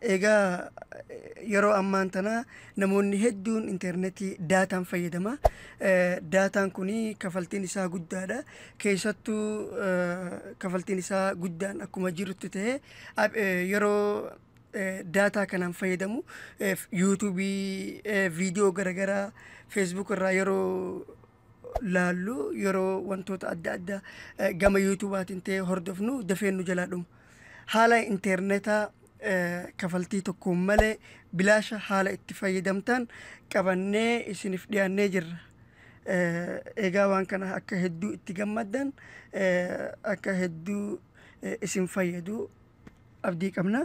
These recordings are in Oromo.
Egaa yeroo ammaan tana namoonni hedduun internetii daataan fayyadama. Daataan kun kafaltiin isaa guddaadha. Keessattuu kafaltiin isaa guddaan akkuma jirutti ta'e yeroo daataa kanaan fayyadamu yuutuubii viidiyoo garagaraa feesbuuk irraa yeroo laallu yeroo wantoota adda addaa eh, gama yuutuubaatiin ta'e hordofnu dafee nu jalaa dhumu. Haala interneetaa eh, kafaltii tokkoon malee bilaasha haala itti fayyadamtaan qabannee isiniif dhiyaannee jirra. Eh, Egaa waan kana akka hedduu itti gammaddan eh, akka hedduu eh, isin fayyadu abdii qabna.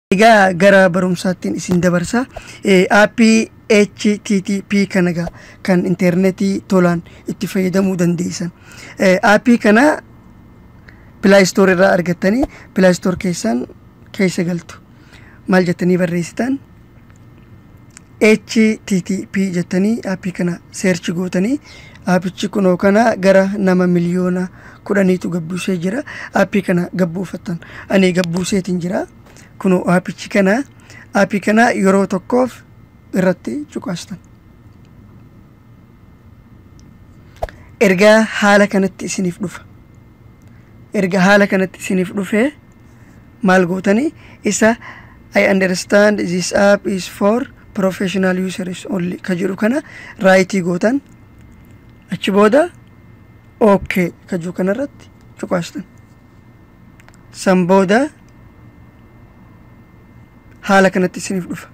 Egaa gara barumsaattiin isin dabarsa. Aappii HTTP kana egaa kan intarneetii tolaan itti fayyadamuu dandeessan. Aappii kana Play Store irraa argattanii Play Store keessan keessa galtu. Maal jettanii barreessitan? http jettanii aappii kana seerchi gootanii aappichi kunoo kana gara nama miliyoona kudhaniitu gabbuusee jira aappii kana gabbuufattan ani gabbuuseetiin jira kunoo aappichi kana aappii kana yeroo tokkoof irratti cuqaastan ergaa haala kanatti isiniif dhufa erga haala kanatti isiniif dhufee maal gootani isa I understand this app is for professional users only ka jedhu kana raayitii gootan achi booda okay ka jedhu kanarratti cuqaastan san booda haala kanatti isiniif dhufa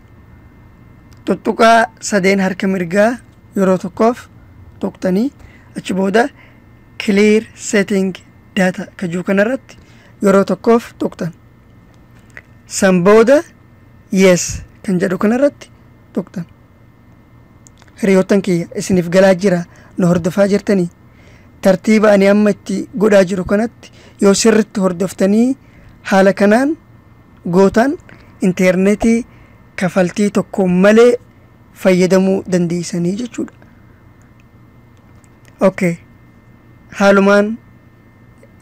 tuttuqaa sadeen harka mirgaa yeroo tokkoof tuqtanii achi booda clear setting data ka jedhu kanarratti yeroo tokkoof tuqxan san booda yes kan jedhu kanarratti tuqxan hiriyoottan kiyya isiniif galaa jira na hordofaa jirtanii tartiiba ani amma itti godhaa jiru kanatti yoo sirritti hordoftanii haala kanaan gootaan intarneetii kafaltii tokko malee fayyadamuu dandeessanii jechuudha. Okay. Haalumaan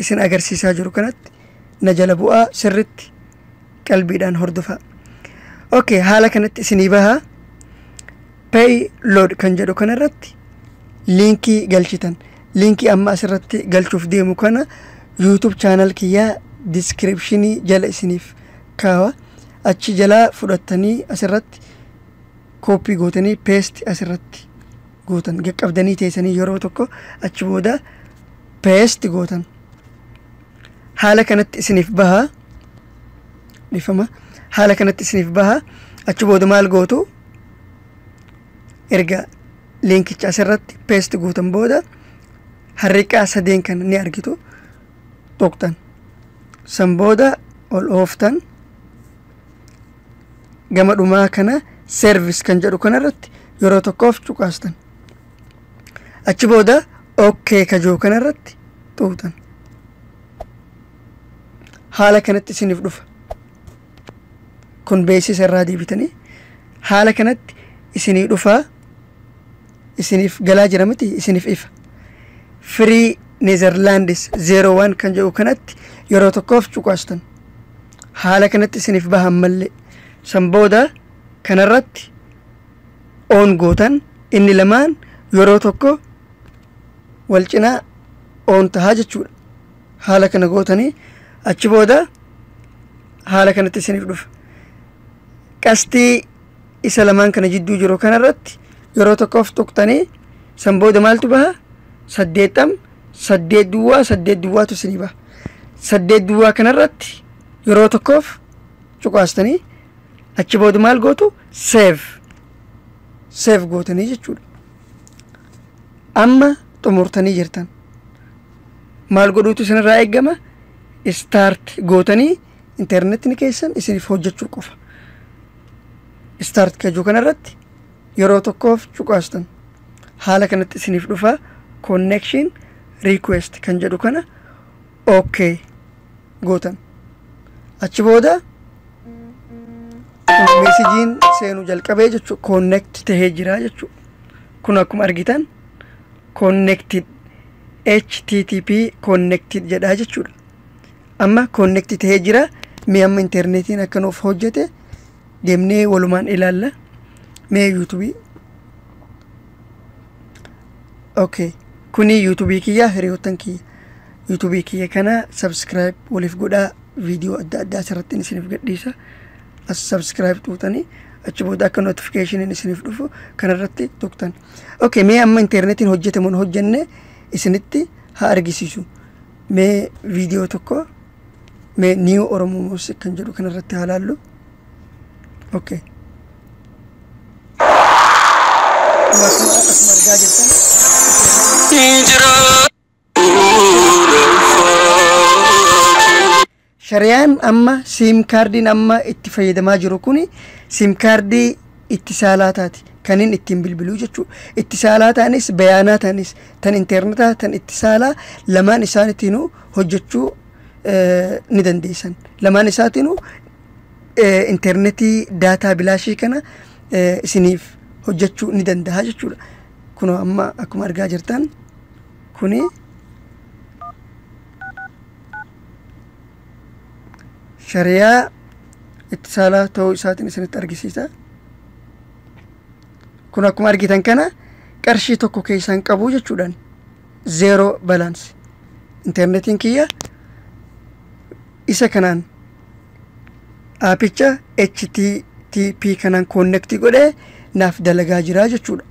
isin agarsiisaa jiru kanatti na jala bu'aa sirritti qalbiidhaan hordofaa okay haala kanatti isinii bahaa pay load kan jedhu kana irratti liinkii galchitan liinkii amma asirratti galchuuf deemu kana yuutub chaanal kiyyaa diskiripshinii jala isiniif kaawa achi jalaa fudhattanii asirratti kooppii gootanii peesti asirratti gootan qaqqabdanii teessanii yeroo tokko achi booda paste gootan haala kanatti isiniif baha dhifama haala kanatti isiniif baha achi booda maal gootu erga liinkicha asirratti paste gootan booda harriqaa sadeen kana ni argitu tuqxan san booda ol ooftan gama dhumaa kana service kan jedhu kanarratti yeroo tokkoof cuqaastan achi booda ok ka jiru kana irratti xuuxan haala kanatti isiniif dhufa kun beeksisa irraa deebitanii haala kanatti isinii dhufaa isiniif galaa jira miti isiniif ifa firii neezerlaandis zeeroo waan kan jedhu kanatti yeroo tokkoof cuqaastan haala kanatti isiniif bahan mallee san booda kanarratti on gootan inni lamaan yeroo tokko wal cinaa on tahaa jechuudha haala kana gootanii achi booda haala kanatti isiniif dhufa qastii isa lamaan kana jidduu jiru kanarratti yeroo tokkoof tuqtanii san booda maaltu baha saddeettam saddeet duwwaa saddeet duwwaatu isinii baha saddeet duwwaa kanarratti yeroo tokkoof cuqaastanii achi booda maal gootu seef seef gootanii jechuudha amma xumurtanii jirtan maal godhuutu isinirraa eegama istaart gootanii intarneetni keessan isiniif hojjechuu qofa istaart kajuu kanarratti yeroo tokkoof cuqaastan haala kanatti isiniif dhufa connection request kan jedhu kana okay gootan achi booda meesijiin seenuu jalqabee jechuudha koonnekti tahee jira jechuudha kun akkuma argitan koonnekti http koonnekti jedhaa jechuudha amma koonnekti tahee jira mee amma intarneetiin akka nuuf hojjete deemnee walumaan ilaalla mee yuutubii okay kuni yuutubii kiyya hiriyoottan kiyya yuutubii kiyya kana sabskiraayib waliif godhaa viidiyoo adda addaa asirratti isiniif gadhiisa as sabskiraayib tuutanii achi booda akka notifikeeshiniin isiniif dhufu kanarratti tuqtan okay mee amma internetiin hojjetamu hin hojjenne isinitti haa argisiisu mee viidiyoo tokko mee niiw oromoo muusiik kan jedhu kanarratti haa laallu ok akkuma argaa jirtan shariyaan amma siim kaardiin amma itti fayyadamaa jiru kun siim kaardii itti saalaataati kan inni ittiin bilbiluu jechuudha. Itti saalaataanis bayaanaataanis tan internetaa tan itti saalaa lamaan isaaniitiinuu hojjechuu eh, ni dandeessan. Lamaan isaatiinuu eh, internetii daataa bilaashii kana eh, isiniif hojjechuu ni danda'a jechuudha kunoo amma akkuma argaa jirtan kuni shariyaa itti saalaa ta'uu isaatiin isinitti argisiisa kun akkuma argitan kana qarshii tokko keessaa hin qabu jechuudhaan zeeroo balaansi internetiin kiyya isa kanaan aapicha http kanaan koonnektii godhee naaf dalagaa jiraa jechuudha.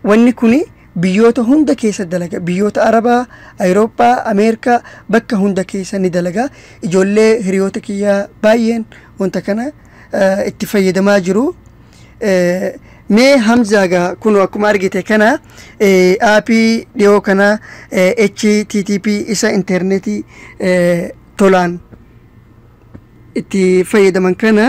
Wanni kun biyyoota hunda keessa dalaga. Biyyoota Arabaa, Awurooppaa, Ameerikaa bakka hunda keessa ni dalaga. Ijoollee hiriyoota kiyyaa baay'een wanta kana itti fayyadamaa jiru. Mee Hamzaagaa kun akkuma argite kana aapii dhiyoo kana http isa intarneetii tolaan itti fayyadaman kana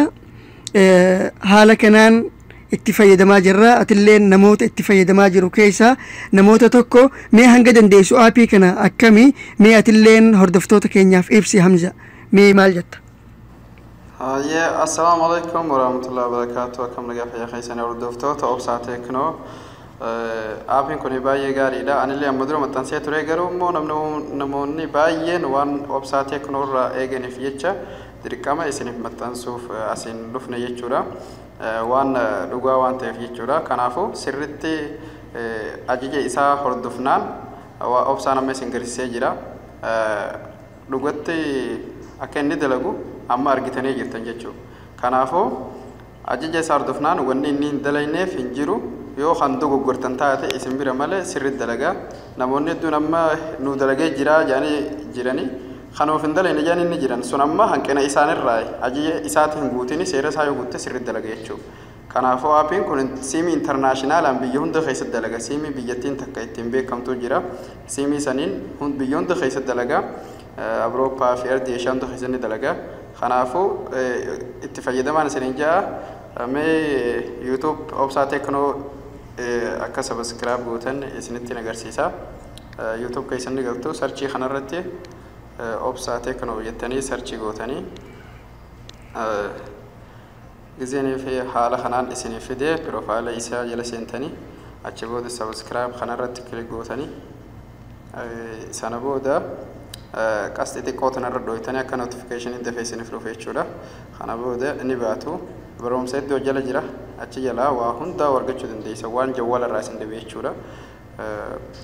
eh, haala kanaan itti fayyadamaa jirra atillee namoota itti fayyadamaa jiru keessaa namoota tokko mee hanga dandeessu aapii kana akkami mee atilleen hordoftoota keenyaaf ibsi hamza mee maal jetta Hayyee assalaamu alaikum warahmatullahi wabarakatuh akkam nagaa fayyaa keessanii hordoftoota obsaa teeknoo Aapiin kun baay'ee gaariidha. Anillee amma dura maxxansee ture garuu immoo namoonni baay'een waan obsaa teeknoo irraa eeganiif jecha dirqama isiniif maxxansuuf asiin dhufne jechuudha. Waan dhugaa waan ta'eef jechuudha. Kanaafuu sirritti ajaja isaa hordofnaan waa obsaan amma isin garsiisee jira. Dhugatti akka inni dalagu amma argitanii jirtan jechuudha. Kanaafuu Ajaja isaa hordofnaan wanni inni hin dalayneef hin jiru. Yoo kan dogoggortan taate isin bira malee sirriitti dalagaa. Namoonni hedduun amma nuu dalagee jiraa jedhanii jirani. Kan of hin dalayne jedhanii ni jiran. Sun amma hanqina isaanirraayi. Ajaja isaati hin guutini seera isaa yoo guutte sirriitti dalaga jechuu. Kanaafuu aapiin kun siimii internaashinaalaan biyya hunda keessatti dalaga. Siimii biyyattiin takka ittiin beekamtuu jira. Siimii saniin biyya hunda keessatti dalaga. Awurooppaa fi Ardii Eeshiyaa hunda keessatti ni dalaga. Kanaafuu itti fayyadamaan isiniin ja'a. Mee YouTube Obsaa Teknoo akka sabiskiraayib gootan isinittiin agarsiisa. YouTube keessan ni galtu sarchii kanarratti Obsaa Teknoo jettanii sarchii gootanii Gizeen fi haala kanaan isiniif fide profile isaa jala seentanii achi booda subscribe kana irratti click gootanii sana booda qasxii xiqqoo tana irra dhooytanii akka notification dafee isiniif dhufe jechuudha. Kana booda ni baatu barumsa iddoo jala jira achi jalaa waa hundaa argachuu dandeessa waan jawwala irraa isin dhibe jechuudha.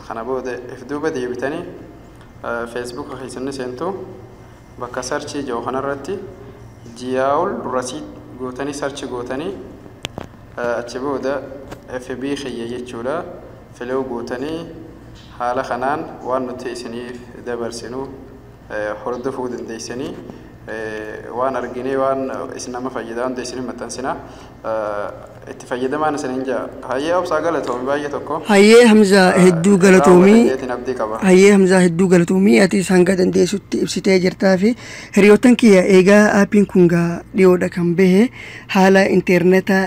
Kana booda if duuba deebitanii Facebook keessan ni seentu. Bakka search jedhu kanarratti Jiyaawul Rasiid gootanii search gootanii achi booda FB kiyya jechuudha filew gootanii haala kanaan waan nuti isiniif dabarsinu hordofuu dandeessanii waan arginee waan isin nama fayyadaa hunda isiniif maxxansina itti fayyadamaan isinin ja'a. Hayyee obsaa galatoomi baay'ee tokko. Hayyee Hamzaa Ah, hedduu irraa hubatan galatoomi. jeetiin abdii qaba. Hayyee Hamzaa hedduu galatoomi. Atis hanga dandeessutti ibsitee jirtaa fi hiriyoottan kiyya eegaa aappiin kun gaa dhiyoodha kan bahe haala interneeta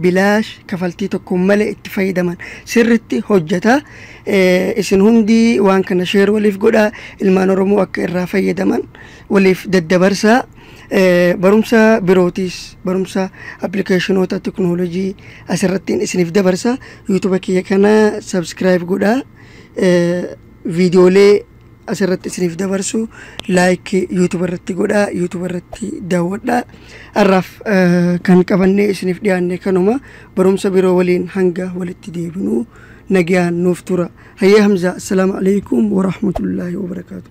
bilaash kafaltii tokko malee itti fayyadaman sirritti hojjeta. Eh, Isin hundi waan kana sheer waliif godhaa ilmaan Oromoo akka irraa fayyadaman waliif daddabarsaa. barumsa birootiis barumsa appilikeeshinoota teknoolojii asirrattiin isiniif dabarsa yuutuba kiyya kana sabskiraayib godha viidiyoolee asirratti isiniif dabarsu laayik yuutuba irratti godha yuutuba irratti daawwadha har'aaf kan qabannee isiniif dhiyaanne kanuma barumsa biroo waliin hanga walitti deebinu nagayaan nuuf tura hayyee hamzaa assalaamu alaikum warahmatullaahi wabarakaatu